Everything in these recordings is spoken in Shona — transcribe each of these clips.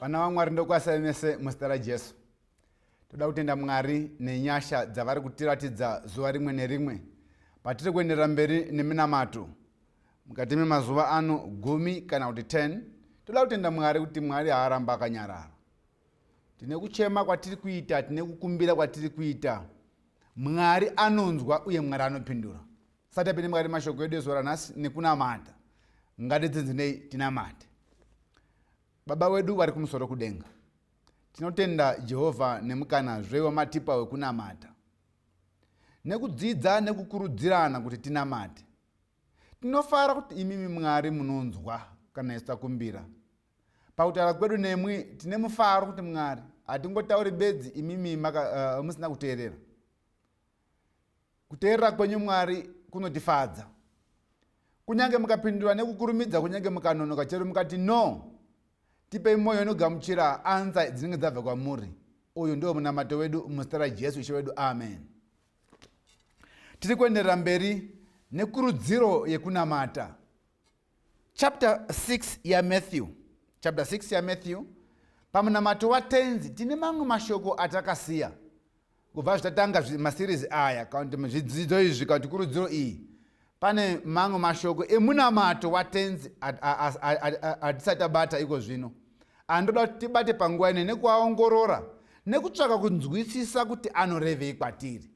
vana vamwari ndokwasai mese muzita rajesu toda kutenda mwari nenyasha dzavari kutiratidza zuva rimwe nerimwe patiri kuenderera mberi neminamato mukati memazuva ano gumi kana kuti 10 toda kutenda mwari kuti mwari haaramba akanyarara tine kuchema kwatiri kuita tine kukumbira kwatiri kuita mwari anonzwa uye mwari anopindura satapinde mwari mashoko edu ezuva ranhasi nekunamata ngatidzinzinei tinamate Baba wedu vari kumusoro kudenga, tinotenda Jehovha nemukanazve wamatipa wekunamata. Nekudzidza nekukurudzirana kuti tinamate, tinofara kuti imimi Mwari munonzwa kana isu takumbira. Pakutaura kwedu nemwi, tine mufaro kuti Mwari hatingotauri bedzi imimi maka, uh, musina kuteerera. Kuteerera kwenyu Mwari kunotifadza. Kunyange mukapindura nekukurumidza kunyange mukanonoka chero mukati no tipei mwoyo inogamuchira ansa dzinenge dzabva kwamuri uyu ndiwo munamato wedu muzita rajesu ishe wedu amen tiri kuenderera mberi nekurudziro yekunamata Chapter 6 yaMatthew. Chapter 6 yaMatthew. Pamunamato waTenzi tine mamwe mashoko atakasiya kubva zvitatanga masirizi aya kana kuti zvidzidzo izvi kana kuti kurudziro iyi pane mamwe mashoko emunamato watenzi atisati abata iko zvino andoda kuti tibate panguva ine nekuaongorora nekutsvaka kunzwisisa kuti anorevei kwatiri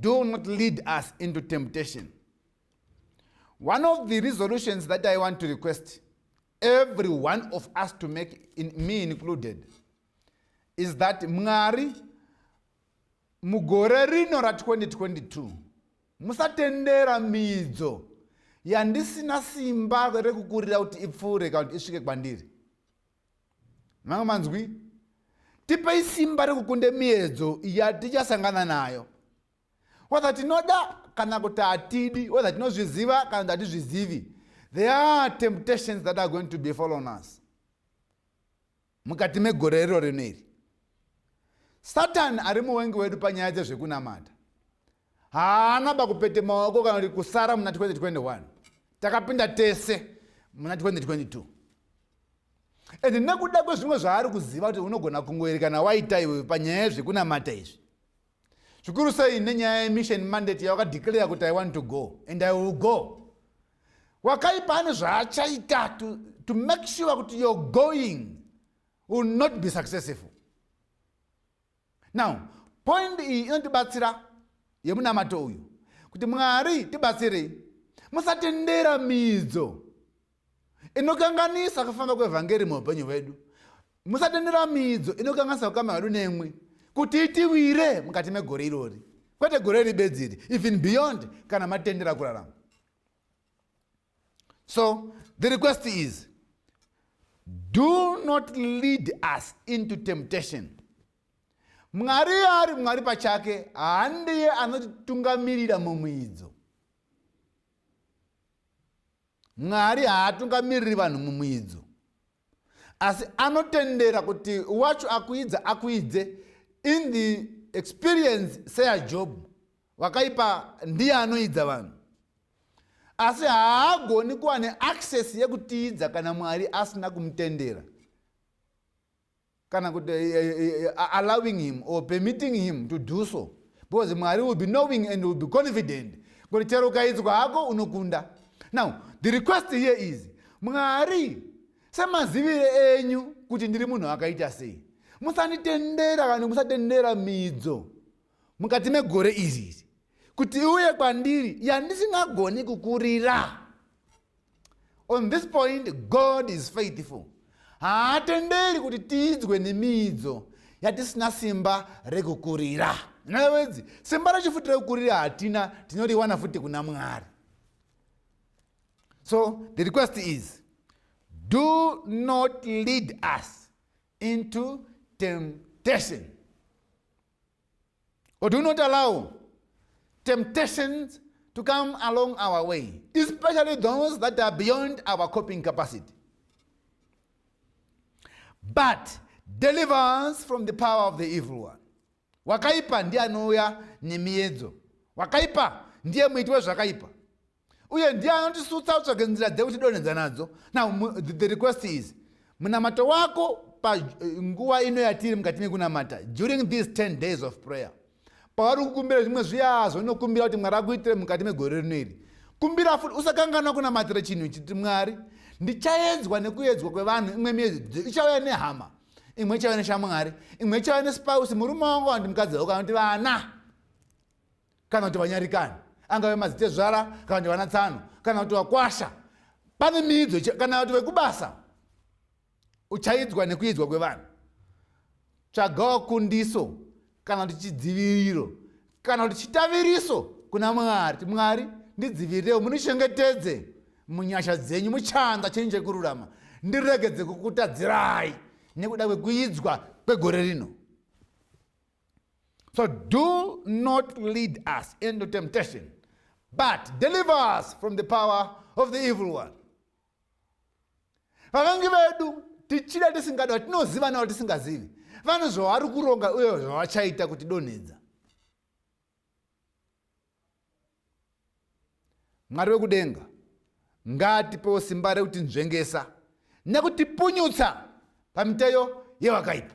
do not lead us into temptation one of the resolutions that i want to request every one of us to make in, me included is that mwari mugore rino ra 2022 musatendera midzo yandisina simba rekukurira kuti ipfuure kana kuti isvike kwandiri manga manzwi tipei simba rekukunda miedzo yatichasangana nayo whether tinoda kana kuti hatidi whether tinozviziva kana kuti hatizvizivi there are temptations that are going to be following us mukati megore riro rino iri satani ari muwengi wedu panyaya dzezvekunamata Haana bakupete maoko kana kuti kusara muna 2021. Takapinda tese muna 2022. And nekuda kwezvimwe zvaari kuziva kuti unogona kungoerekana waita iwe panyaya yezvekunamata izvi. Zvikuru sei nenyaya yemission mandate yawakadeclare kuti I want to go and I will go. Wakaipa ane zvaachaita to, to make sure kuti you're going will not be successful. now point iyi inotibatsira yemunamato uyu kuti mwari tibatsirei musatendera midzo inokanganisa kufamba kwevhangeri muupenyu hwedu musatendera midzo inokanganisa kukama hwedu nemwi kuti itiwire mukati megore irori kwete gore iri bedzi iri even beyond kana matendera kurarama So the request is do not lead us into temptation. Mwari ari Mwari pachake handiye anotitungamirira mumwidzo. Mwari haatungamiriri vanhu mumwidzo. Asi anotendera kuti wacho akuidza akuidze in the experience seyaJob wakaipa ndiye anoidza vanhu. asi haagoni kuva neaccess yekutiidza kana mwari asina kumutendera kana kuti eh, eh, eh, allowing him or permitting him to do so because mwari will be knowing and will be confident kuti chero ukaidzwa hako unokunda now the request here is mwari semazivire enyu kuti ndiri munhu akaita sei musanditendera kana musatendera midzo mukati megore iri iri kuti iuye kwandiri yandisingagoni kukurira on this point god is faithful haatenderi kuti tiidzwe nemiidzo yatisina simba rekukurira navedzi simba rechifuti rekukurira hatina tinoriwana futi kuna mwari so the request is do not lead us into temptation or do not allow temptations to come along our way especially those that are beyond our coping capacity but deliver us from the power of the evil one wakaipa ndiye anouya nemiedzo wakaipa ndiye muiti wezvakaipa uye ndiye anotisutsa utsvage nzira dzekutidonhedza nadzo now the request is munamato wako panguva eh, ino yatiri mukati mekunamata during these 10 days of prayer pauri kukumbira zvimwe zviya zvonokumbira kuti mwari akuitire mukati megore rino iri kumbira futi usakanganwa kunamatira chinhu chiti mwari ndichaedzwa nekuedzwa kwevanhu imwe miezi ichauya nehama imwe ichauya neshamwari imwe ichauya nespouse murume wangu wandi mukadzi wako anokuti vana kana kuti vanyarikani angave madzitezvara kana kuti vana tsano kana kuti vakwasha pane miidzo kana kuti vekubasa uchaidzwa nekuidzwa kwevanhu tsvagawo kundiso kana kuti chidziviriro kana kuti chitaviriso kuna mwari ti mwari ndidzivirirewo munichengetedze munyasha dzenyu muchanza chenyu chekururama ndiregedze kukutadzirai nekuda kwekuidzwa kwegore rino So do not lead us into temptation, but deliver us from the power of the evil one. Vakangi vedu tichida tisingada vatinoziva navo tisingazivi vane zvavari kuronga uye zvavachaita kuti donhedza mwari wekudenga ngatipewo simba rekuti nzvengesa nekutipunyutsa pamiteyo yevakaipa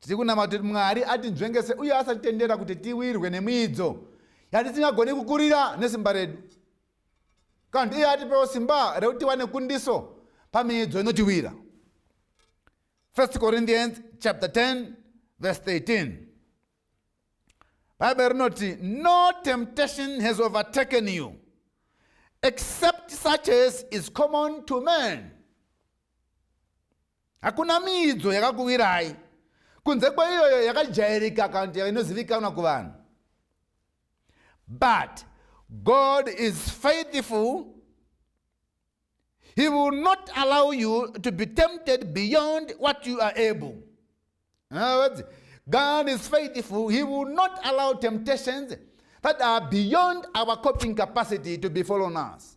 Tiri kunama kuti Mwari atinzvengese uye asatitendera kuti tiwirwe nemiidzo yatisingagoni kukurira nesimba redu. Kana kuti iye atipewo simba rekuti tiwane kundiso pamiidzo inotiwira. 1 Corinthians chapter 10 verse 13. Bible rinoti no temptation has overtaken you except such as is common to man. Hakuna miidzo yakakuwirai kunze kweiyoyo yakajairika akaunti inozivikanwa kuvanhu but god is faithful he will not allow you to be tempted beyond what you are able words, god is faithful he will not allow temptations that are beyond our coping capacity to be fallen us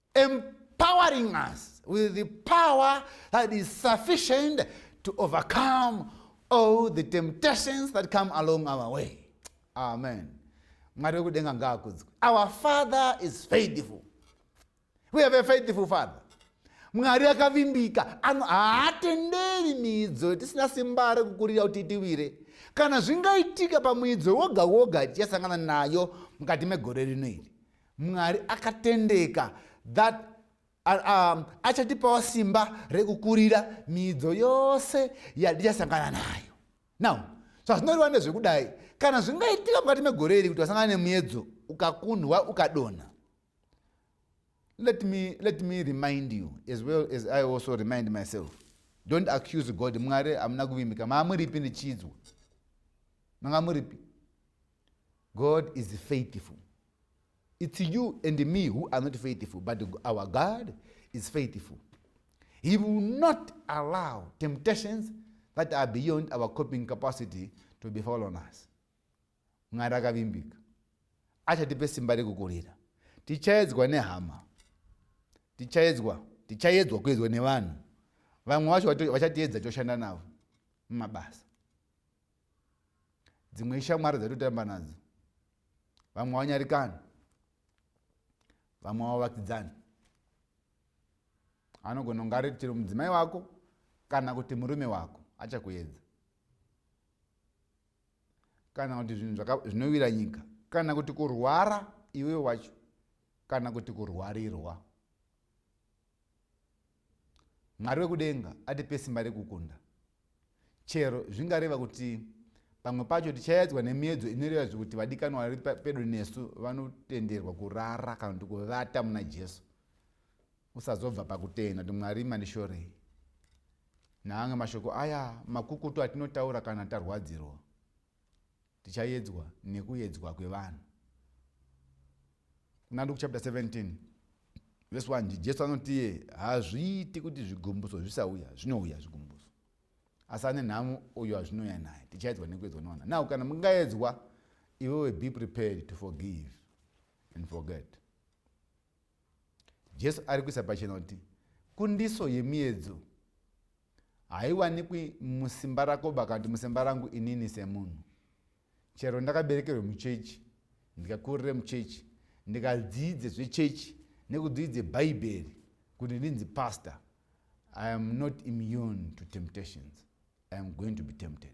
empowering us with the power that is sufficient to overcome all the temptations that come along our way amen mwari wekudenga ngaakudzwe our father is faithful we have a faithful father mwari akavimbika haatenderi miidzo tisina simba rekukurira kuti itiwire kana zvingaitika pamuidzo woga woga tichasangana nayo mukati megore rino iri Mwari akatendeka that um, achatipawo simba rekukurira miidzo yose yatichasangana nayo now zvazvinoreva ndezvekudai kana zvingaitika mukati megore iri kuti wasangana nemuedzo ukakundwa ukadonha let me, let me remind you as well as i also remind myself don't accuse god mwari hamuna kuvimbika maamuripi ndichiidzwa manga muripi God is faithful. It's you and me who are not faithful, but our God is faithful. He will not allow temptations that are beyond our coping capacity to befall on us. Mwari akavimbika. Achatipe simba rekukurira. Tichaedzwa nehama. Tichaedzwa. Tichaedzwa kuedzwa nevanhu. Vamwe vacho vachatiedza toshanda navo mumabasa. dzimwe ishamwari dzaitotamba nadzo vamwe wanyarikani vamwe wavakidzani anogona kunga ari chero mudzimai wako kana kuti murume wako achakuedza kana kuti zvinhu zvinowira nyika kana kuti kurwara iwe wacho kana kuti kurwarirwa Mwari wekudenga atipe simba rekukunda. Chero zvingareva kuti pamwe pacho tichayadzwa nemiedzo inoreva zvekuti vadikanwa vari pedo nesu vanotenderwa kurara kana kuti kuvata muna Jesu. Usazobva pakutenda kuti Mwari mandishorei. Naamwe mashoko aya makukutu atinotaura kana tarwadzirwa. Tichayedzwa nekuyedzwa kwevanhu. Kuna Luke chapter 17 verse 1 Jesu anoti iye hazviiti kuti zvigumbuso zvisauya, zvinouya zvigumbuso. Asi ane nhamo uyo azvinouya naye, tichayedzwa nekuyedzwa nevanhu. Now kana mungayedzwa, iwewe be prepared to forgive and forget. Jesu ari kuisa pachena kuti kundiso yemiyedzo haiwanikwi musimba rako bakati musimba rangu inini semunhu chero ndakaberekerwe muchechi ndikakurire muchechi ndikadziidze zvechechi nekudziidze bhaibheri kuti ndinzi pastor i am not immune to temptations i am going to be tempted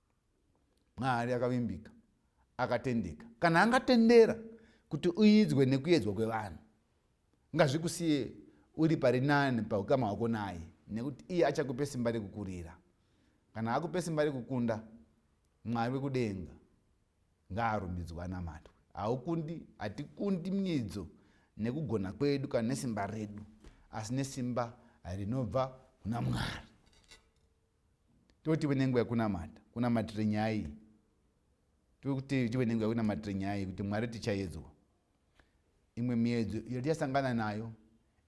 mwari akavimbika akatendeka kana angatendera kuti uidzwe nekuedzwa kwevanhu ngazvikusiye uri pari nani paukama hwako naye nekuti iye achakupe simba rekukurira kana akupe simba rekukunda mwari wekudenga ngaarumbidzwa anamatwe haukundi hatikundi miedzo nekugona kwedu kana nesimba redu asi nesimba rinobva kuna mwari totive nenguva yekunamata kunamatire nyaya tokuti tive nenguva yekunamatire nyaya yekuti mwari tichayedzwa imwe miedzo iyo tichasangana nayo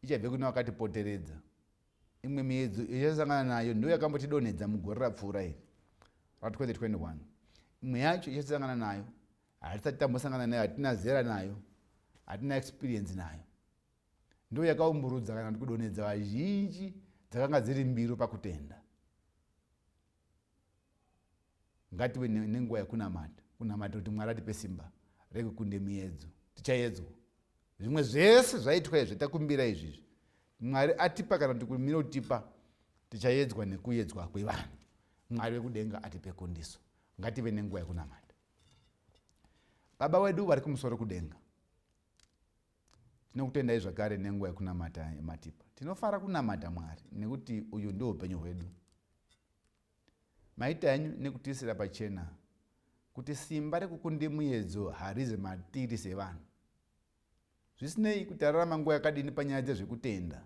ichabve kune wakatipoteredza imwe miedzo iyo tichasangana nayo ndo yakambotidonhedza mugore rapfuura iri ra 2021 imwe yacho ichasangana nayo hatisati tambosangana nayo hatina zera nayo hatina experience nayo ndiyo yakaumburudza kana kuti kudonhedza vazhinji dzakanga dziri mbiro pakutenda ngative nenguva yekunamata kunamata kuti mwari atipe simba rekukunde miyedzo tichayedzwa zvimwe zvese zvaitwa izvi takumbira izvizvi mwari atipa kana kuti kumira kutipa tichayedzwa nekuyedzwa kwevanhu mwari wekudenga atipe kundiso ngative nenguva yekunamata baba wedu vari kumusoro kudenga Tinokutendai zvakare nenguva yekunamata yamatipa. Tinofara kunamata Mwari nekuti uyu ndiwo upenyu hwedu. Maita henyu nekutiisira pachena kuti simba rekukunde muyedzo harize matiri sevanhu. Zvisinei kuti tararama nguva yakadini panyaya dzezvekutenda,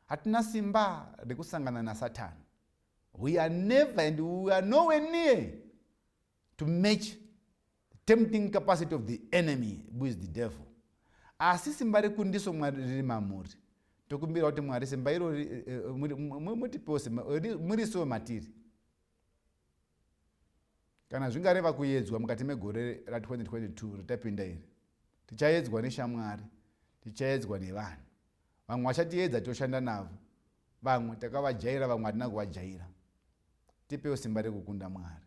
hatina simba rekusangana nasatani. We are never and we are nowhere near to match tempting capacity of the enemy who is the devil asi simba rekundiso mwari riri mamuri tokumbira kuti mwari simba iro eh, eh, mutipewo simba eh, murisowe matiri kana zvingareva kuyedzwa mukati megore ra 2022 ritapinda iri tichayedzwa neshamwari tichayedzwa nevanhu vamwe vachatiedza toshanda navo Vamwe takavajaira vamwe hatina kuvajaira. Tipewo simba rekukunda Mwari.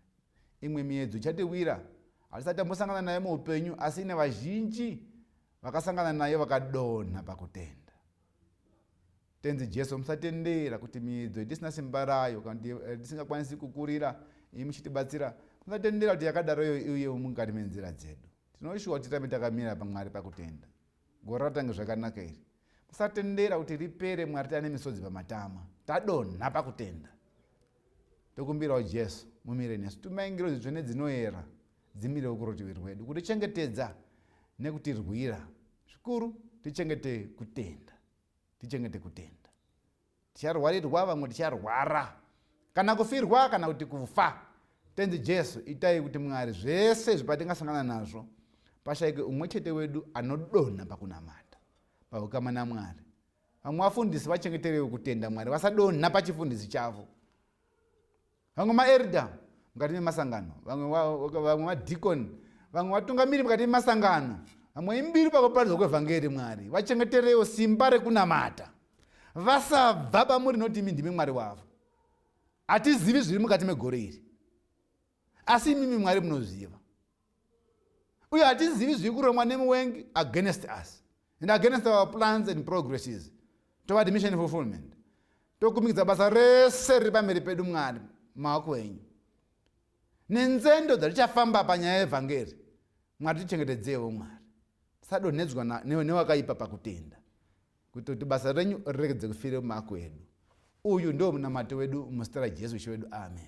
Imwe miedzo ichatiwira hatisati tambosangana nayo muupenyu asi ine vazhinji vakasangana nayo vakadonha pakutenda. Tenzi Jesu musatendera kuti miedzo itisina simba rayo kana kuti eh, tisingakwanisi kukurira imi muchitibatsira musatendera kuti yakadaro iyo iuye mukati menzira dzedu. Tinoshuwa kuti tirambe takamira paMwari pakutenda. Gore ratange zvakanaka iri. Musatendera kuti ripere Mwari tane misodzi pamatama. Tadonha pakutenda. Tokumbirawo Jesu mumire nesu. Tumai ngirozi dzvene dzinoera dzimirewo kurutivi rwedu kutichengetedza nekutirwira. Zvikuru tichengete kutenda. Tichengete kutenda. Ticharwarirwa vamwe ticharwara. Kana kufirwa kana kuti kufa. Tenzi Jesu itai kuti Mwari zvese izvi patingasangana nazvo pashaike umwe chete wedu anodonha pakunamata paukama naMwari. Vamwe vafundisi vachengeterewo kutenda Mwari vasadonha pachifundisi chavo. vamwe maerda mukati memasangano vamwe madikoni vamwe vatungamiri mukati memasangano vamwe imbiri pakuparidzwa kwevhangeri mwari vachengeterewo simba rekunamata vasabva pamuri noti imi ndimi mwari wavo hatizivi zviri mukati megore iri asi imimi mwari munoziva uye hatizivi zviri kuromwa nemuwengi against us and against our plans and progresses tova dimission fulfillment tokumikidza basa rese riri pamberi pedu mwari maoko enyu nenzendo dzatichafamba panyaya yevhangeri mwari tichengetedzewo mwari tisadonhedzwa newakaipa pakutenda kuita kuti basa renyu riregedze kufire mumaoko edu uyu ndiwo munamato wedu muzita rajesu ishe wedu amen